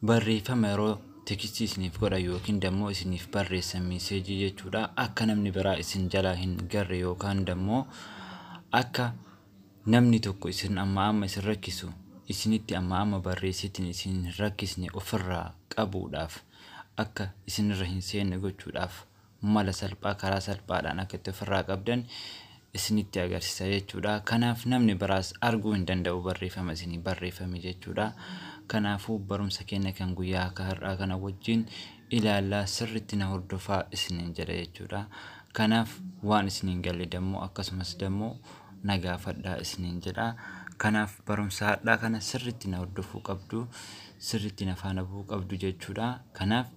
Barreeffama yeroo tekstii isiniif godhan yookiin dammoo isiniif barreessan miiseejii jechuudha. Akka namni biraa isin jalaa hin garre yookaan dammoo akka namni tokko isin amma amma isin rakkisu isinitti amma amma barreessitiin isin hin rakkisne ofirraa qabuudhaaf akka isinirra hin seenne gochuudhaaf mala salphaa karaa salphaadhaan akka itti ofirraa qabdan isinitti agarsiisa jechuudha. Kanaaf namni biraas arguu hin danda'u barreeffama isinii barreeffame jechuudha. Kanaafuu barumsa keenya kan guyyaa akka har'aa kana wajjin ilaallaa sirriitti na hordofaa isiniin jedha jechuudha. Kanaaf waan isiniin galle dammoo akkasumas dammoo na gaafadhaa isiniin jedha. Kanaaf barumsa har'aa kana sirriitti na hordofuu qabdu, sirriitti na faana bu'uu qabdu jechuudha. Kanaaf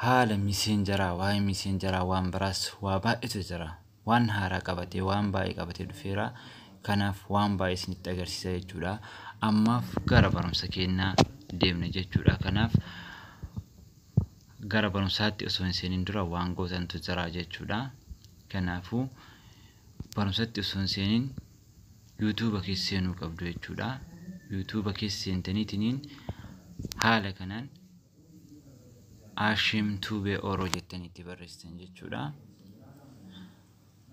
Haala miseenjaraa waa'ee miseenjaraa waan biraas waa baay'eetu jira. Waan haaraa qabatee waan baay'ee qabatee dhufeera. Kanaaf waan baay'ee isinitti agarsiisa jechuudha. Ammaaf gara barumsa keenyaa deemna jechuudha. Kanaaf gara barumsaatti osoo hin seeniin dura waan gootantu jira jechuudha. Kanaafuu barumsatti osoo hin seeniin yuutuuba keessa seenuu qabdu jechuudha. Yuutuuba keessa seentaniitiniin haala kanaan Ashim Tube Oro jettanii itti barreessitan jechuudha.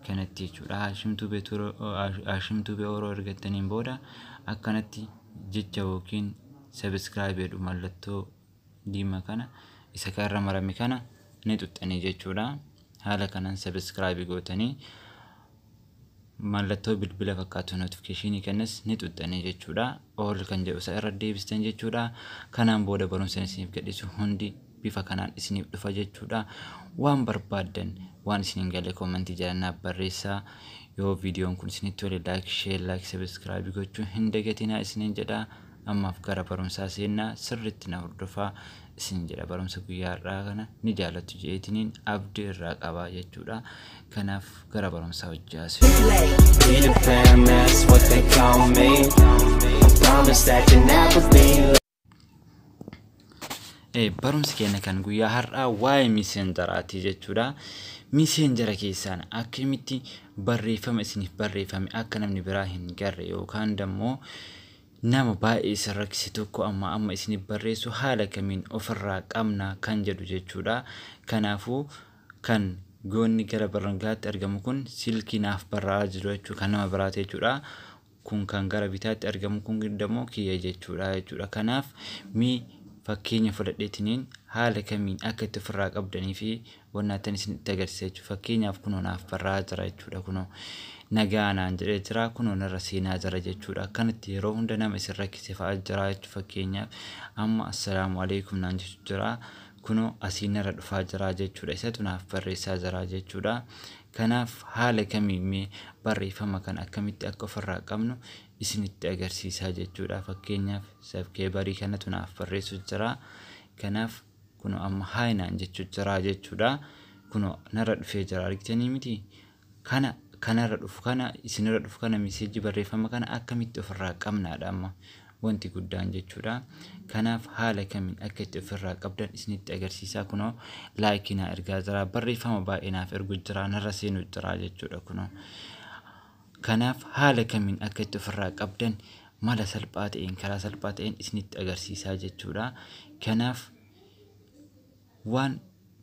Kanatti jechuudha. Ashim Tube Turo- Ash- Ashim Tube Oro ergattaniin booda akkanatti jecha yookiin subscribe jedhu mallattoo diimaa kana isa kanarra marame kana ni xuxxanii jechuudha. Haala kanaan subscribe gootanii mallattoo bilbila fakkaatu notification kanas ni xuxxanii jechuudha all kan jedhu isa irra deebistan jechuudha kanaan booda barumsaan isiniif gadhiisu hundi bifa kanaan isiniif dhufa jechuudha waan barbaaddan waan isin hin galle koomantii jalannaaf barreessaa yoo viidiyoon kun isinitti tole laayik sheer laayik sabiskiraabii gochuu hin dagatinaa isiniin jedhaa Ammaaf gara barumsaa seennaa sirriitti na hordofaa isiniin jedha. Barumsa guyyaa har'aa kana ni jaalattu je'eetiniin abdi irraa qaba jechuudha. Kanaaf gara barumsaa hojii haasifna. Be the famous, what they call me. I promise that you'll never be late. Eh, barumsi keenya kan guyyaa har'aa waa'ee miseenjaraati jechuudha. Miseenjara keessaan akkamitti barreeffama isiniif barreeffame akka namni biraa hin garre yookaan immoo Nama baay'ee isin rakkise tokko ammaa amma isiniif barreessu haala kamiin of irraa qabna kan jedhu jechuudha. Kanaafuu kan goonni gara barrangaatti argamu kun silkii naaf barraa'aa jiru jechuudha kan nama biraati jechuudha. Kun kan gara bitaatti argamu kun immoo kiyya jechuudha jechuudha. Kanaaf mee fakkeenya fudhadheetiniin haala kamiin akka itti ofirraa qabdanii fi wannaattan isinitti agarsiisa jechuudha. Fakkeenyaaf kunoo naaf barraa'aa jira jechuudha. Kunoo nagaa naan jedhee jira. Kunoo narra seenaa jira jechuudha. Akkanatti yeroo hunda nama isin rakkise fa'a jira jechuudha. Fakkeenyaaf amma assalaamu alaikum naan jechu jira. Kunoo asii narra dhufaa jira jechuudha. Isatu naaf barreessaa jira jechuudha. Kanaaf haala kamiin mee barreeffama kana akkamitti akka ofirraa qabnu isinitti agarsiisaa jechuudha. Fakkeenyaaf sabkeebarii kanatu naaf barreessu jira. Kanaaf kuno amma haay naan jechuu jiraa jechuudha kuno narra dhufee jira argitanii miti kana kanarra dhufu kana isinirra dhufu kana miseejii barreeffama kana akkamitti ofirraa qabnaadha amma wanti guddaan jechuudha kanaaf haala kamiin akka itti ofirraa qabdan isinitti agarsiisaa kuno laayikii naa ergaa jira barreeffama baay'ee naaf ergu jira narra seenuu jira jechuudha kuno Kanaaf haala kamiin akka itti ofirraa qabdan mala salphaa ta'een karaa salphaa ta'een isinitti agarsiisaa jechuudha. Kanaaf waan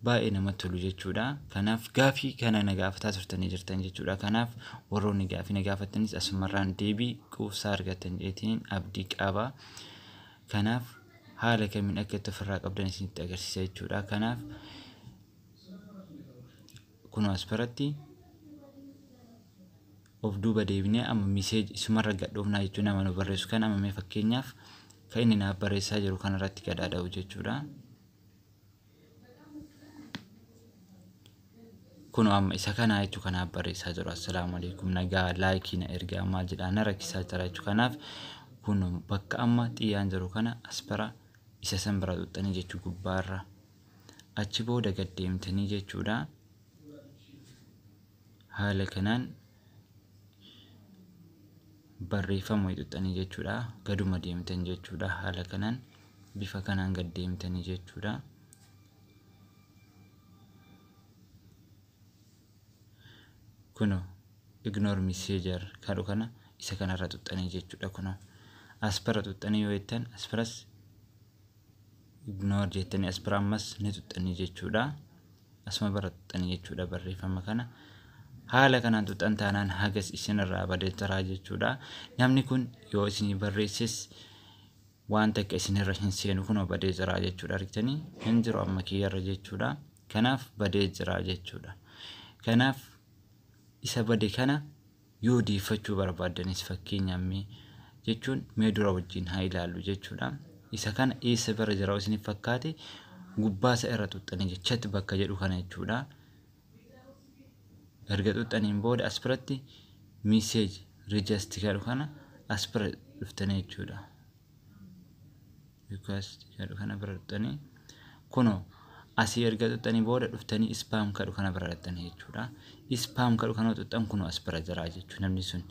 baay'ee namatti tolu jechuudha. Kanaaf gaafii kana na gaafataa turtanii jirtan jechuudha. Kanaaf warroonni gaafii na gaafattanis asumarraan deebii quubsaa argattan jeetiin abdii qaba. Kanaaf haala kamiin akka itti ofirraa qabdan isinitti agarsiisa jechuudha. Kanaaf Kun as biratti of duuba deebinee amma miseeji isumarra gadhoofnaa jechuu nama nu barreessu kan amma mee fakkeenyaaf kan inni naaf barreessaa jiru kanarratti gadhaada'u jechuudha. Kun amma isa kanaa jechuu kanaaf barreessaa jiru assalaamu alaikum nagaa laayikii na ergaa maal jedhaa na rakkisaa jira jechuu kanaaf kun bakka amma xiyyaan jiru kana as bira isa san bira xuxxanii jechuu gubbaarra. achi booda gad deemtanii jechuudha haala kanaan barreeffama hixuxxanii jechuudha gaduma deemtan jechuudha haala kanaan bifa kanaan gad deemtanii jechuudha kuno ignore messenger kadhu kana isa kanarra xuxxanii jechuudha kuno aspara xuxxanii yoo jettan asparas ignore jettanii as bira ammas ni tuxxanii jechuudha asuma bara tuxxanii jechuudha barreeffama kana haala kanaan tuxxan taanaan hagas isinirraa badeetaraa jechuudha namni kun yoo isinii barreesses waan takka isinirra hin seenu kun badee jiraa jechuudha argitanii hin jiru amma kiyyarra jechuudha kanaaf badee jiraa jechuudha kanaaf isa bade kana yoo deeffachuu barbaaddanis fakkeenyaaf mee jechuun mee dura wajjin haa ilaallu jechuudha. Isa kana eessa bira jira isiniif fakkaate gubbaa isa irra xuxxanii jira. Chat bakka jedhu kana jechuudha. Erga xuxxaniin booda as biratti message register jedhu kana as bira dhuftanii jechuudha. request jedhu kana bira dhuftanii kuno asii erga xuxxanii booda dhuftanii ispaam kadhu kana bira dhaxxanii jechuudha. Ispaam kadhu kana xuxxan kuno as bira jira jechuudha namni sun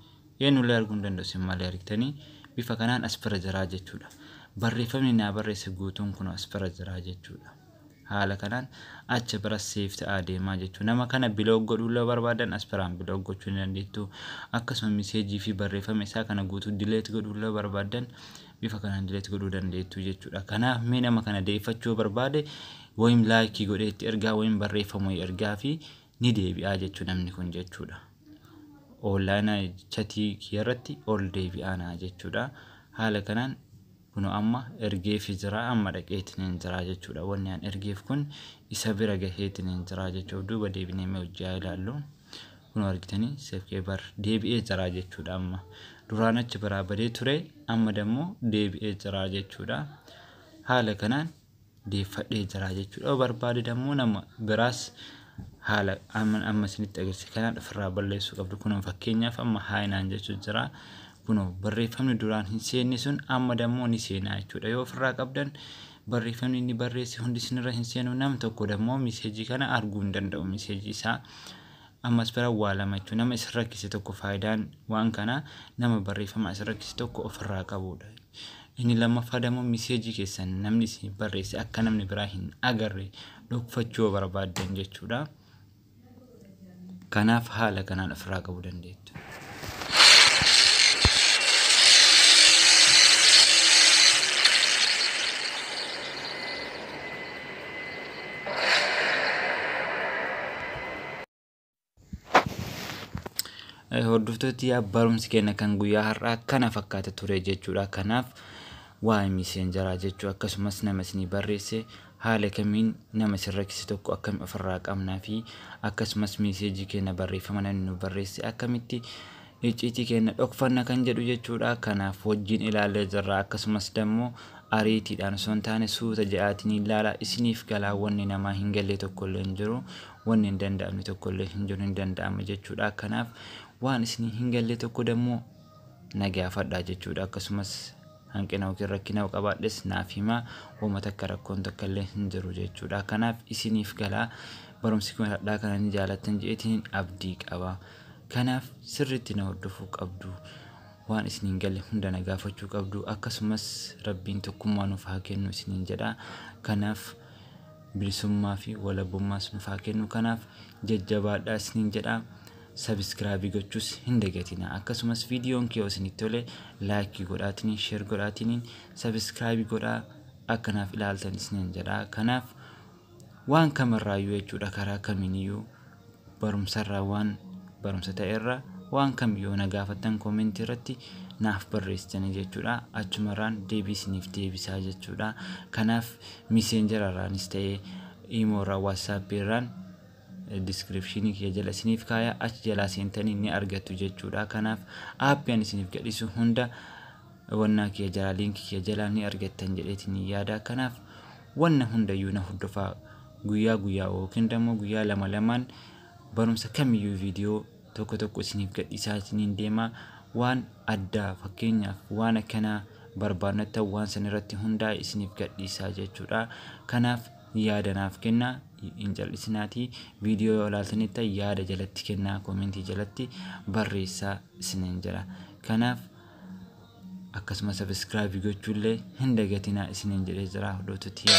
eenyullee arguu hin danda'u sin malee argitanii bifa kanaan as bira jira jechuudha. Barreeffamni naa barreesse guutuun kuno as bira jira jechuudha. Haala kanaan acha bira save ta'aa deema jechuudha. Nama kana block godhuu illee barbaadan as biraan block gochuu ni dandeettu. Akkasuma message fi barreeffama isaa kana guutuu delete godhuu illee barbaadan bifa kanaan delete godhuu dandeettu jechuudha. Kanaaf mee nama kana deeffachuu barbaade wayim laayikii godhee itti ergaa wayim barreeffama wayii ergaa fi ni deebi'aa jechuu namni kun jechuudha. Oonlaayina chatii kiyarratti ol deebi'aana jechuudha. Haala kanaan Kunoo amma ergeefii jira amma dhaqeetiniin jira jechuudha. Wanni an ergeef kun isa bira gaheetiniin jira jechuudha. Of duuba deebinee mee hojii haa ilaallu. Kunoo argitanii seefkee bar deebi'ee jira jechuudha amma. Duraan achi biraa badee ture amma dammoo deebi'ee jira jechuudha. Haala kanaan deeffadhee jira jechuudha. Yoo barbaade dammoo nama biraas haala amma amma isinitti agarsiise kanaan ofirraa balleessuu qabdu. Kun fakkeenyaaf amma haayinaan jechuu jira. Kunoo barreeffamni duraan hin seenne sun amma dammoo ni seenaa jechuudha. Yoo ofirraa qabdan barreeffamni inni barreesse hundi isinirra hin seenu nam tokko dammoo miseejii kana arguu hin danda'u miseejii isaa Ammas bira waa lamachuu nama isin rakkise tokko faayidaan waan kanaa nama barreeffama isin rakkise tokko ofirraa qabuudha. Inni lammaffaadammoo miseejii keessan namni isiniif barreesse akka namni biraa hin agarre dhokfachuu yoo barbaaddan jechuudha. Kanaaf haala kanaan ofirraa qabuu dandeettu. Hordoftooti barumsi keenya kan guyyaa har'aa kana fakkaata ture jechuudha. Kanaaf waa'ee miiseenjaraa jechuu akkasumas nama isinii barreesse Haala kamiin nama isin rakkise tokko akkami ofirraa qabna fi akkasumas message keenna barreeffama namni nuuf barreesse akkamitti icciitii keenna dhokfanna kan jedhu jechuudha kanaaf wajjiin ilaallee jirra akkasumas dammo ariitiidhaan osoo hin taane suuta ja'aatiin ilaala isiniif galaa wanni namaa hin gallee tokko illee hin jiru wanni hin danda'amne tokko illee hin jiru hin danda'ama jechuudha kanaaf waan isinii hin gallee tokko dammo na gaafadhaa jechuudha akkasumas hanqina yookiin rakkina yoo qabaadhes naaf himaa woma takka rakkoon takka illee hin jiru jechuudha kanaaf isiniif gala barumsi kun hadhaa kana ni jaalattan je'etiin abdii qaba kanaaf sirriitti na hordofuu qabdu waan isiniin galle hunda na gaafachuu qabdu akkasumas rabbiin tokkummaa nuuf haa kennu isiniin jedha kanaaf bilisummaa fi walabummaas nuuf haa kennu kanaaf jajjabaadhaa isiniin jedha Sabiskiraabii gochuus hin dagatinaa. Akkasumas viidiyoon kee yoo isinitti tole laayikii godhaatiniin sheer godhaatiniin sabiskiraabii godhaa akka naaf ilaaltan isiniin jedha. Kanaaf waan kamirraayyuu jechuudha karaa kamiiniyyuu barumsarraa waan barumsa ta'erra waan kam yoo na gaafattan koomentii irratti naaf barreessitanii jechuudha. Achumarraan deebii isiniif deebisaa jechuudha. Kanaaf miseenjararraanis ta'ee iimoorraa waatsaappii irraan description kiyya jala isiniif kaaya achi jalaa seentanii ni argattu jechuudha kanaaf aappi ani isiniif gadhisu hunda wannaa kiyya jalaa liinkii kiyya jalaa ni argattan jedheetiin yaada kanaaf wanna hundayyuu na hordofaa guyyaa guyyaa yookiin immoo guyyaa lama lamaan barumsa kamiyyuu viidiyoo tokko tokko isiniif gadhisaa isiniin deema waan addaa fakkeenyaaf waan akkanaa barbaannattan waan san irratti hundaa isiniif gadhiisaa jechuudha kanaaf yaadanaaf kennaa hin cal'isinaatii viidiyoo yoo ilaaltanitta yaada jalatti kennaa koomentii jalatti barreessaa isiniin jira kanaaf akkasuma sabiskiraabii gochuullee hin dagatinaa isiniin jedhee jira hordoftoota